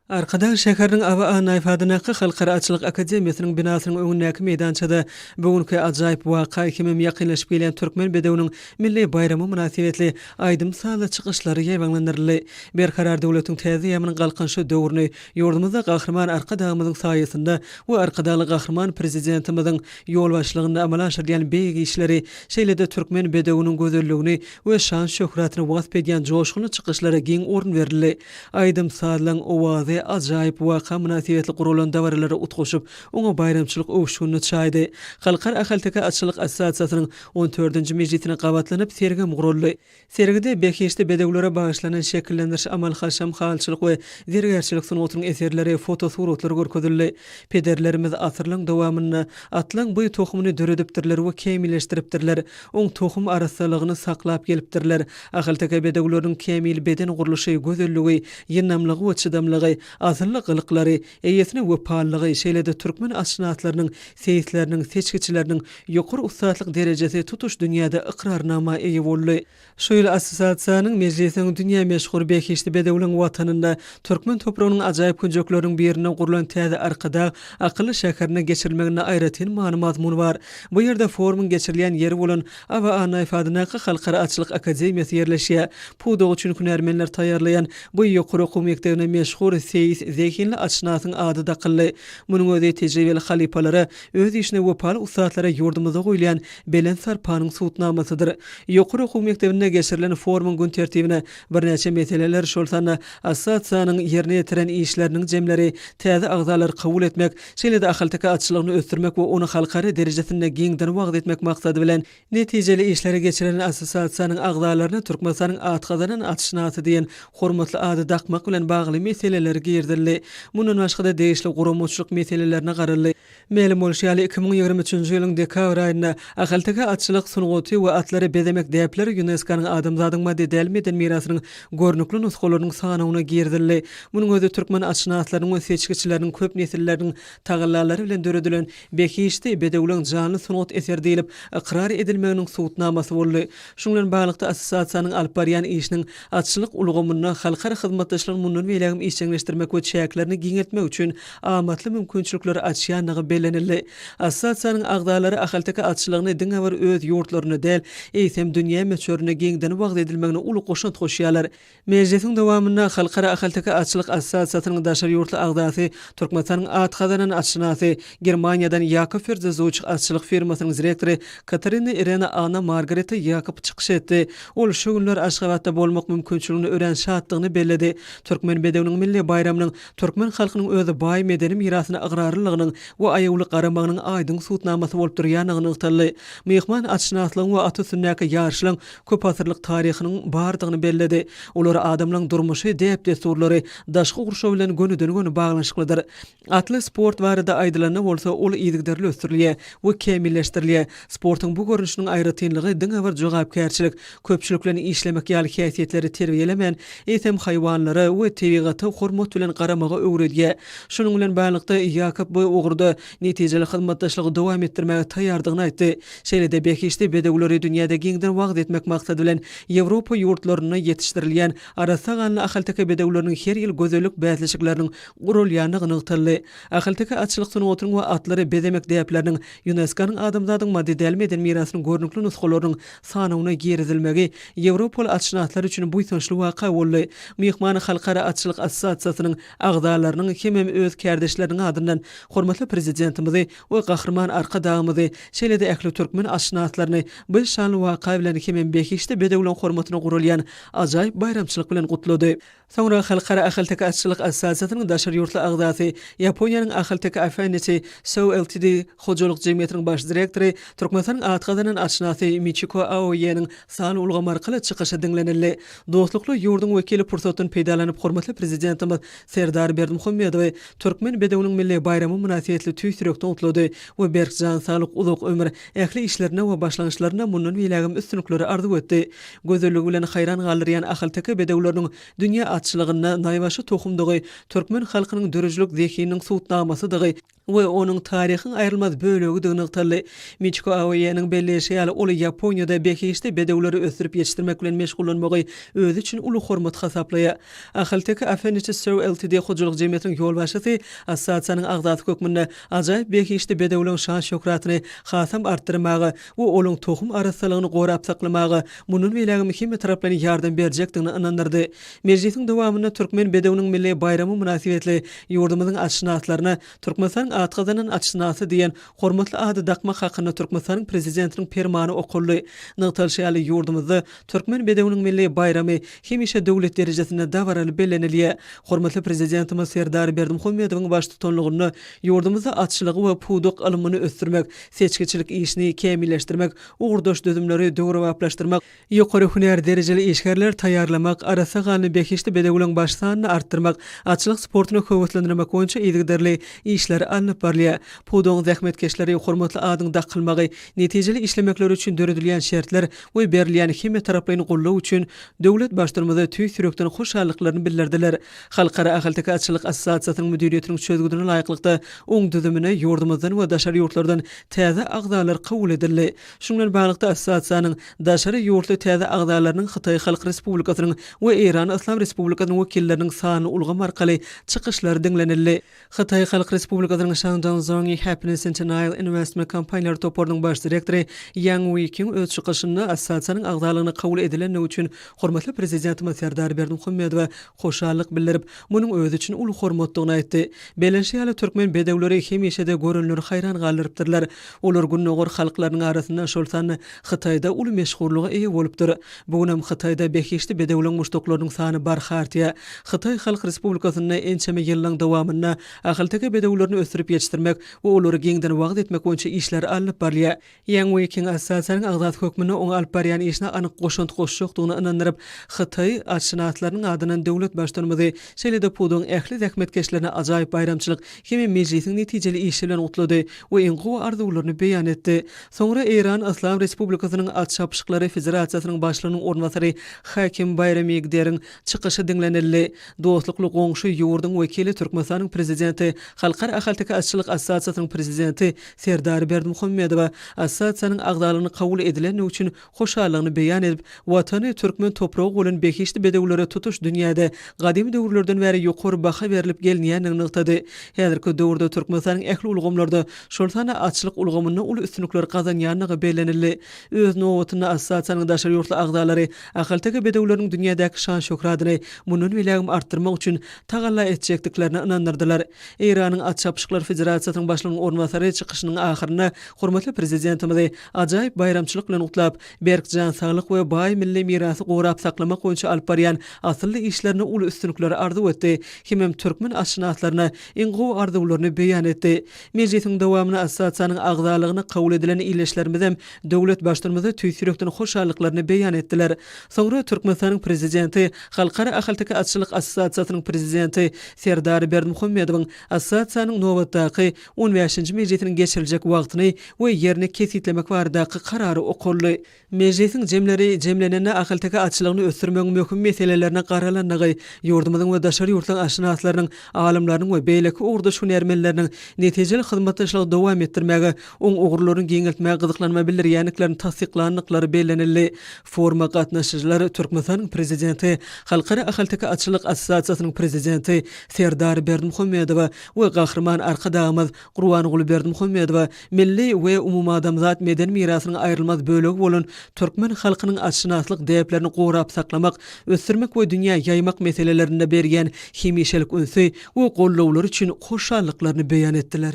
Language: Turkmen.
Arkadag şäheriniň AWA Naýfadynaky Halkara atçylyk akademiýasynyň binasynyň öňündäki meýdançada bu günki ajaýyp waka hemem ýakynlaşyp gelýän Türkmen bedewiniň milli baýramy mynasybetli aýdym-sazly çykyşlar ýaýbaňlandyryldy. Berkarar döwletiň täze ýamynyň Galkynyşy döwrüni ýurdumyzda Gahryman Arkadagymyzyň saýasynda we Arkadagly Gahryman Prezidentimiziň ýolbaşçylygynda amala aşyrylýan beýik işleri, şeýle-de türkmen bedewiniň gözelligini we şan-şöhratyny wasp edýän joşgunly çykyşlara giň orun berildi. Aýdym-sazlaryň owazy ajaýyp waka mynasybetli guralan dabaralara utgaşyp, oňa baýramçylyk öwüşginini çaýdy. Halkara ahalteke atçylyk assosiasiýasynyň on dördünji mejlisine gabatlanyp, sergem guraldy. Sergide behişdi bedewlere bagyşlanan şekillendiriş, amal-haşam, halyçylyk we zergärçilik sungatynyň eserleri, fotosuratlar görkezildi. Pederlerimiz asyrlaryň dowamynda atlaň bu tohumyny döredipdirler we kämilleşdiripdirler, oň tohum arassalygyny saklap gelipdirler, Ahalteke bedewleriniň kämil beden gurluşy, gözelligi, ýyndamlygy we çydamlygy, asylly gylyklary, eýesine wepalylygy, şeýle-de türkmen atşynaslarynyň, seýisleriniň, seçgiçileriniň ýokary ussatlyk derejesi tutuş dünýäde ykrarnama eýe boldy. Şu ýyl assosiasiýanyň mejlisiniň dünýä meşhur behişdi bedewleň watanynda, türkmen topragynyň ajaýyp künjekleriniň birinde gurlan täze Arkadag akylly şäherinde geçirilmeginde aýratyn many-mazmun bar. Bu ýerde forumyň geçirilýän ýeri bolan Aba Annaýfadyndaky Halkara atçylyk akademiýasy ýerleşýär. Pudagy üçin hünärmenler taýýarlaýan bu ýokary okuw mekdebine meşhur seýis, zehinli atşynasyň ady dakyldy. Munuň özi tejribeli halypalara, öz işine wepaly ussatlara ýurdumyzda goýulýan belent sarpanyň subutnamasydyr. Ýokary okuw mekdebinde geçirilen forumyň gün tertibine birnäçe meseleler, şol sanda assosiasiýanyň ýerine ýetiren işleriniň jemleri, täze agzalary kabul etmek, Şeýle-de ahalteke atçylygyny ösdürmek we ony halkara derejesinde giňden wagyz etmek maksady bilen, netijeli işleri geçiren assosiasiýanyň agzalaryna Türkmenistanyň at gazanan atşynasy diýen hormatly ady dakmak bilen bagly meseleler girizildi. Mundan başga-da degişli guramaçylyk meselelerine garaldy. Mälim bolşy ýaly, iki müň ýigrimi üçünji ýylyň dekabr aýynda Ahalteke atçylyk sungaty we atlary bezemek däpleri ÝUNESKO-nyň Adamzadyň maddy däl meden mirasynyň görnükli nusgalarynyň sanawyna girizildi. Munuň özi türkmen atşynaslarynyň we seçgiçileriniň köp nesilleriniň tagallalary bilen döredilen behişdi bedewleň janly sungat eseri diýlip ykrar edilmeginiň subutnamasy boldy. Şunuň bilen baglylykda, assosiasiýanyň alyp barýan işiniň atçylyk ulgamynda halkara hyzmatdaşlygyny mundan beýlägem işjeňleşdirmek we çäklerini giňeltmek üçin amatly mümkinçilikleri açýandygy bellenildi. Assosiasiýanyň agzalary ahalteke atçylygyny diňe bir öz ýurtlarynda däl, eýsem, dünýä möçberinde giňden wagyz edilmegine uly goşant goşýarlar. Mejlisiň dowamynda Halkara ahalteke atçylyk assosiasiýasynyň daşary ýurtly agzasy, Türkmenistanyň at gazanan atşynasy, Germaniýadan Ýakob Ferzezuç atçylyk firmasynyň direktory Katarina Irena Anna Margareta Ýakob çykyş etdi. Ol şu günler Aşgabatda bolmak mümkinçiligini örän şatdygyny belledi. Türkmen bedewiniň milli baýramynyň Türkmen halkynyň öz baý medeni mirasyna ygrarlylygynyň we aýawly garamagynyň aýdyň subutnamasy bolup durýandygy nygtaldy. Myhman atşynaslygyň we at üstündäki ýaryşlaryň köpasyrlyk taryhynyň bardygyny belledi. Olar adamlaryň durmuşy, däp-dessurlary, daşky gurşawy bilen gönüden-göni baglanyşyklydyr. Atly sport barada aýdylanda bolsa, ol yzygiderli ösdürilýär we kämilleşdirilýär. Sportuň bu görnüşiniň aýratynlygy diňe bir jogapkärçilik, Köpçülik bilen işlemek ýaly häsiýetleri terbiýelemän, eýsem haýwanlara we tebigata hormat bilen garamagy öwredýär. Şunuň bilen baglylykda, Ýakob bu ugurda netijeli hyzmatdaşlygy dowam etdirmäge taýýardygyny aýtdy. Şeýle-de behişdi bedewleri dünýäde giňden wagyz etmek maksady bilen Ýewropa ýurtlarynda ýetişdirilýän arassa ganly ahalteke bedewleriniň her ýyl gözellik bäsleşikleriniň guralýandygy nygtaldy. Ahalteke atçylyk sungatynyň we atlary bezemek däpleriniň, ÝUNESKO-nyň Adamzadyň maddedäl meden mirasynyň görnükli nusgalarynyň sanawyna girizilmegi ýewropaly atşynaslar üçin buýsançly waka boldy. Myhman Halkara atçylyk assosiasiýasynyň agzalarynyň hemem öz kärdeşleriniň adyndan hormatly Prezidentimizi we Gahryman Arkadagymyzy, şeýle-de ähli türkmen atşynaslaryny bu şanly waka bilen hemem behişdi bedewleň hormatyna guralýan ajaýyp baýramçylyk bilen gutlady. Soňra Halkara Ahalteke atçylyk assosiasiýasynyň daşary ýurtly agzasy, Ýaponiýanyň Ahalteke Affinity Show Ltd. hojalyk jemgyýetiniň baş direktory, Türkmenistanyň at gazanan atşynasy Miçiko Aoýeniň sanly ulgam arkaly çykyşy diňlenildi. Dostlukly ýurduň wekili pursatdan peýdalanyp hormatly Prezidentimiz Serdar Berdimuhamedowy Türkmen bedewiniň milli baýramy mynasybetli tüýs ýürekden gutlady we berk jan saglyk, uzak ömür, ähli işlerinde we başlangyçlarynda mundan beýlägem üstünlikleri arzuw etdi. Gözelligi bilen haýran galdyrýan ahalteke bedewleriniň dünýä atçylygynda naýbaşy tohumdygy, türkmen halkynyň döredijilik zehininiň subutnamasydygy we onuň taryhyň aýrylmaz bölegidigini nygtaldy. Miçiko Aoýanyň belleýşi ýaly, ol Ýaponiýada behişdi bedewleri ösdürip ýetişdirmek bilen meşgullanmagy özi üçin uly hormat hasaplaýar. Ahalteke Afeniçi Sir Ltd. Hojalyk jemgyýetiniň ýolbaşçysy, assosiasiýanyň agzasy hökmünde ajaýyp behişdi bedewligiň şan-şöhratyny hasam artdyrmaga, we olaň tohum arassalygyny gorap saklamaga mundan beýlägem hemmetaraplaýyn ýardam berjekdigine ynandyrdy. Mejlisiň dowamynda Türkmen bedewiniň milli baýramy mynasybetli ýurdumyzyň atşynaslaryna Türkmenistanyň at gazanan atşynasy diýen hormatly ady dakmak hakynda Türkmenistanyň Prezidentiniň Permany okaldy. Nygtalyşy ýaly, ýurdumyzda Türkmen bedewiniň milli baýramy hemişe döwlet derejesinde dabaraly bellenilýär. Hormatly Prezidentimiz Serdar Berdimuhamedowyň baştutanlygynda ýurdumyzda atçylygy we pudak alymyny ösdürmek, seçgiçilik işini kämilleşdirmek, ugurdaş düzümleri döwrebaplaşdyrmak, ýokary hünär derejeli işgärler taýýarlamak, arassa ganly behişdi bedewleriň baş sanyny artdyrmak, atçylyk sportuny höweslendirmek boýunça yzygiderli işler alnyp barylýar. Pudagyň zähmetkeşleri hormatly adyň dakylmagy, netijeli işlemekleri üçin döredilýän şertler we berilýän hemmetaraplaýyn goldaw üçin döwlet Baştutanymyza tüýs ýürekden hoşallyklaryny bildirdiler. Halkara ahalteke atçylyk assosiasiýasynyň müdiriýetiniň çözgüdine laýyklykda, oň düzümine ýurdumyzdan we daşary ýurtlardan täze agzalar kabul edildi. Şunuň bilen baglylykda, assosiasiýanyň daşary ýurtly täze agzalarynyň Hytaý Halk Respublikasynyň we Eýran Yslam Respublikasynyň wekilleriniň sanly ulgam arkaly çykyşlary diňlenildi. Hytaý Halk Respublikasynyň Shangdang Zhongyi Happiness Centennial Investment kompaniýalar toparynyň baş direktory Ýang Wuýkiň öz çykyşynda assosiasiýanyň agzalygyna kabul edilendigi üçin hormatly Prezidentimiz Serdar Berdimuhamedowa hoşallyk bildirip, munuň özi üçin uly hormatdygyny aýtdy. Bellenişi ýaly, türkmen bedewleri hemişe-de görenleri haýran galdyrypdyrlar. Olar Gündogar halklarynyň arasynda, şol sanda Hytaýda uly meşhurlyga eýe bolupdyr. Bu gün hem Hytaýda behişdi bedewleň muşdaklarynyň sany barha artýar. Hytaý Halk Respublikasynda ençeme ýyllaryň dowamynda ahalteke bedewlerini ösdürip ýetişdirmek we olary giňden wagyz etmek boýunça işler alnyp barylýar. Ýang Weýkiň assosiasiýanyň agzasy hökmünde oňa alyp barýan işine anyk goşant goşjakdygyna ynandyryp, Hytaý atşynaslarynyň adyndan döwlet Baştutumyzy, şeýle-de pudagyň ähli zähmetkeşlerine ajaýyp baýramçylyk hem mejlisiň netijeli işi bilen gutlady we iň gowy arzuwlaryny beýan etdi. Soňra Eýran Yslam Respublikasynyň At çapyşyklary federasiýasynyň başlygynyň orunbasary Hakim Baýramigderiň çykyşy diňlenildi. Dostlukly goňşy ýurduň wekili Türkmenistanyň Prezidenti Halkara ahalteke atçylyk assosiasiýasynyň prezidenti Serdar Berdimuhamedowa assosiasiýanyň agzalygyny kabul edilendigi üçin hoşallygyny beýan edip, Watany, türkmen topragy bolan behişdi bedewlere tutuş dünýäde gadymy döwürlerden bäri ýokary baha berlip gelinýändigini nygtady. Häzirki döwürde Türkmenistanyň ähli ulgamlarda, şol sanda atçylyk ulgamynda uly üstünlikler gazanýandygy bellenildi. Öz nobatynda, assosiasiýanyň daşary ýurtly agzalary ahalteke bedewleriniň dünýädäki şan-şöhratyny mundan beýlägem artdyrmak üçin tagalla etjekdiklerine ynandyrdylar. Eýranyň At çapyşyklar federasiýasynyň başlygynyň orunbasary çykyşynyň ahyrynda hormatly Prezidentimizi ajaýyp baýramçylyk bilen gutlap, berk jan saglyk we baý milli mirasy gorap saklamak boýunça alyp barýan asylly işlerine uly üstünlikler arzuw etdi hemem türkmen atşynaslaryna iň gowy arzuwlaryny beýan etdi. Mejlisiň dowamyna assosiasiýanyň agzalygyna kabul edilen ildeşlerimizem döwlet Baştutumyza tüýs ýürekden hoşallyklaryny beýan etdiler. Soňra Türkmenistanyň Prezidenti Halkara ahalteke atçylyk assosiasiýasynyň prezidenti Serdar Berdimuhamedowyň assosiasiýanyň nobatdaky on bäşinji mejlisiniň geçiriljek wagtyny we ýerini kesgitlemek baradaky karary okaldy. Mejlisiň jemleri jemlenende ahalteke atçylygyny ösdürmegiň möhüm meselelerine garalandygy, ýurdumyzyň we daşary ýurtlaryň atşynaslarynyň, alymlarynyň we beýleki ugurdaş hünärmenleriniň netijeli hyzmatdaşlygy dowam etdirmäge oň ugurlaryny giňeltmäge gyzyklanma bildirýändiklerini tassyklandyklary bellenildi. Foruma gatnaşyjylar Türkmenistanyň Prezidenti, Halkara ahalteke atçylyk assosiasiýasynyň prezidenti Serdar Berdimuhamedowa we Gahryman Arkadagymyz Gurbanguly Berdimuhamedowa milli we umumadamzat medeni mirasynyň aýrylmaz bölegi bolan türkmen halkynyň atşynaslyk däplerini gorap saklamak, ösdürmek we dünýä ýaýmak meselelerinde berýän hemişelik ünsi we gollawlary üçin hoşallyklaryny beýan etdiler.